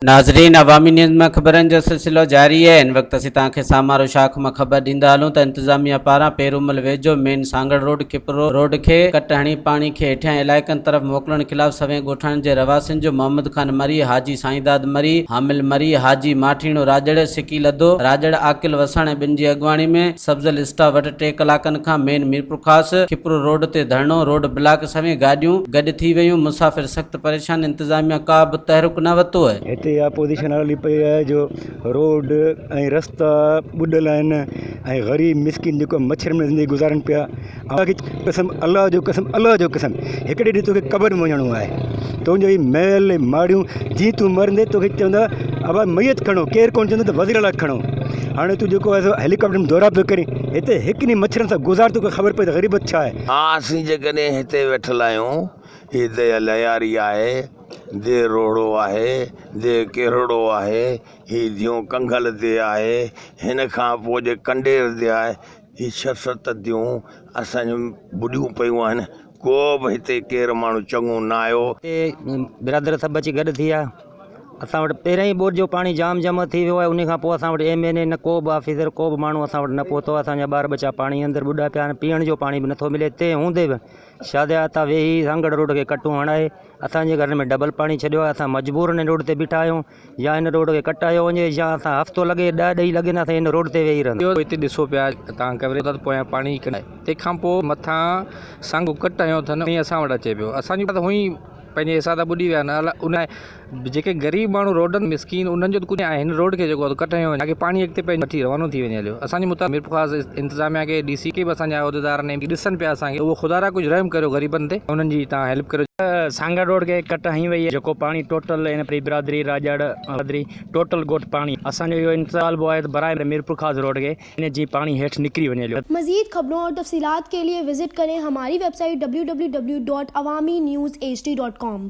ناظرين عوامي نيوز ۾ خبرن جو سلسلو جاري آهي ان وقت اسين توهان کي سامارو شاخ مان خبر ڏيندا هلون ته انتظاميا پاران پيرومل ويجهو main Sanghar road Khipro road کي ڪٽ هڻي پاڻي کي هيٺيان علائقن طرف موڪلڻ خلاف سوين ڳوٺاڻن جي رهواسين جو محمد خان مري حاجي سائينداد مري حامل مري حاجي ماٺيڻو راڄڙ سڪي لڌو راڄڙ عاقل وساڻ ۽ ٻن جي اڳواڻي ۾ سبزل اسٽاف وٽ ٽي ڪلاڪن کان مين ميرپورخاص کپرو روڊ تي ڌرڻو، روڊ بلاڪ سوين گاڏيون گڏ ٿي ويون، مسافر سخت پريشان انتظاميا ڪا به تحرڪ نه وتو. هتي اپوزيشن هلي پئي آهي جو روڊ ۽ رستا ٻڏل آهن ۽ غريب مسڪين جيڪو مڇرن ۾ زندگي گذارن پيا الله جي قسم الله جي قسم الله جي قسم هڪڙي ڏينهن توکي قبر ۾ وڃڻو آهي. تنهنجو هي محل ۽ ماڙيون جيئن تون مرندين توکي چوندا ابا ميت کڻو ڪير ڪونه چوندو ته وزير اعليٰ کڻو هاڻي تون جيڪو آهي هيليڪاپٽر ۾ دورا پيو ڪرين هتي هڪ ڏينهن مڇرن سان گذار توکي خبر پوي ته غريبت ڇا آهي. ها اسين جيڪڏهن هتي ويٺل آهيون هي ديهه لهياري آهي، ديهه روهڙو آهي، ديهه ڪيرڙو آهي، هي ديون ڪنگل ديهه آهي، هن کان پوء جي ڪنڊير ديهه آهي، هي ڇهه ست ديون اسان جون ٻڏيون پيون آهن، ڪو به هتي ڪير ماڻهو چڱو نه آيو. هتي برادر سڀ اچي گڏ ٿي آهي، اسان وٽ پهريائين ٻوڏ جو پاڻي جام جمع ٿي ويو آهي، انهي کان پوء اسان وٽ ايم اين اي نه ڪو به آفيسر ڪو به ماڻهو اسان وٽ نه پهتو آهي، اسان جا ٻار ٻچا پاڻي اندر ٻڏا پيا آهن، پيئڻ جو پاڻي به نٿو ملي، تنهن هوندي به شادي آتا ويهي سانگهڙ روڊ کي ڪٽون هڻائي اسان جي گهرن ۾ ڊبل پاڻي ڇڏيو آهي، اسان مجبورن هن روڊ تي بيٺا آهيون. يا هن روڊ کي ڪٽايو وڃي يا اسان هفتو لڳي ڏهه ڏهي لڳين اسين هن روڊ تي ويهي رهنداسين. اهو هتي ڏسو پيا توهان ڪيمري تان ته پويان پاڻي ڪڍي آهي تنهن کان پوء مٿان سانگو ڪٽ هنيو اٿن ۽ اسان وٽ اچي پيو اسان جون ته هونء ئي پنهنجي حصا ته ٻڏي ويا نه ان لاء جيڪي غريب ماڻهو روڊن تي مسڪين انهن جو ته ڪجهه ناهي هن روڊ کي جيڪو آهي ڪٽ هنيو وڃي تاڪي پاڻي اڳتي پنهنجو وٺي روانو ٿي وڃي هليو اسان جي مطابق ميرپورخاص انتظاميا کي ڊي سي کي به اسان جي عهديدارن ايم جي ڏسن پيا اسان کي اهو خدا را ڪجهه رحم ڪريو غريبن تي ۽ انهن جي تان هيلپ ڪريو. سانگهڙ روڊ کي ڪٽ هنئي وئي آهي جيڪو پاڻي ٽوٽل هن پري برادري راڄڙ برادري ٽوٽل ڳوٺ پاڻي اسان جو اهو انطالبو آهي ته براء ميرپورخاص روڊ کي ان جي پاڻي هيٺ نڪري وڃي هليو مزيد خبرون اور تفصيلات کے ليے وزٽ ڪرين ھماري ويب سائيٽ www.awaminews hd.com.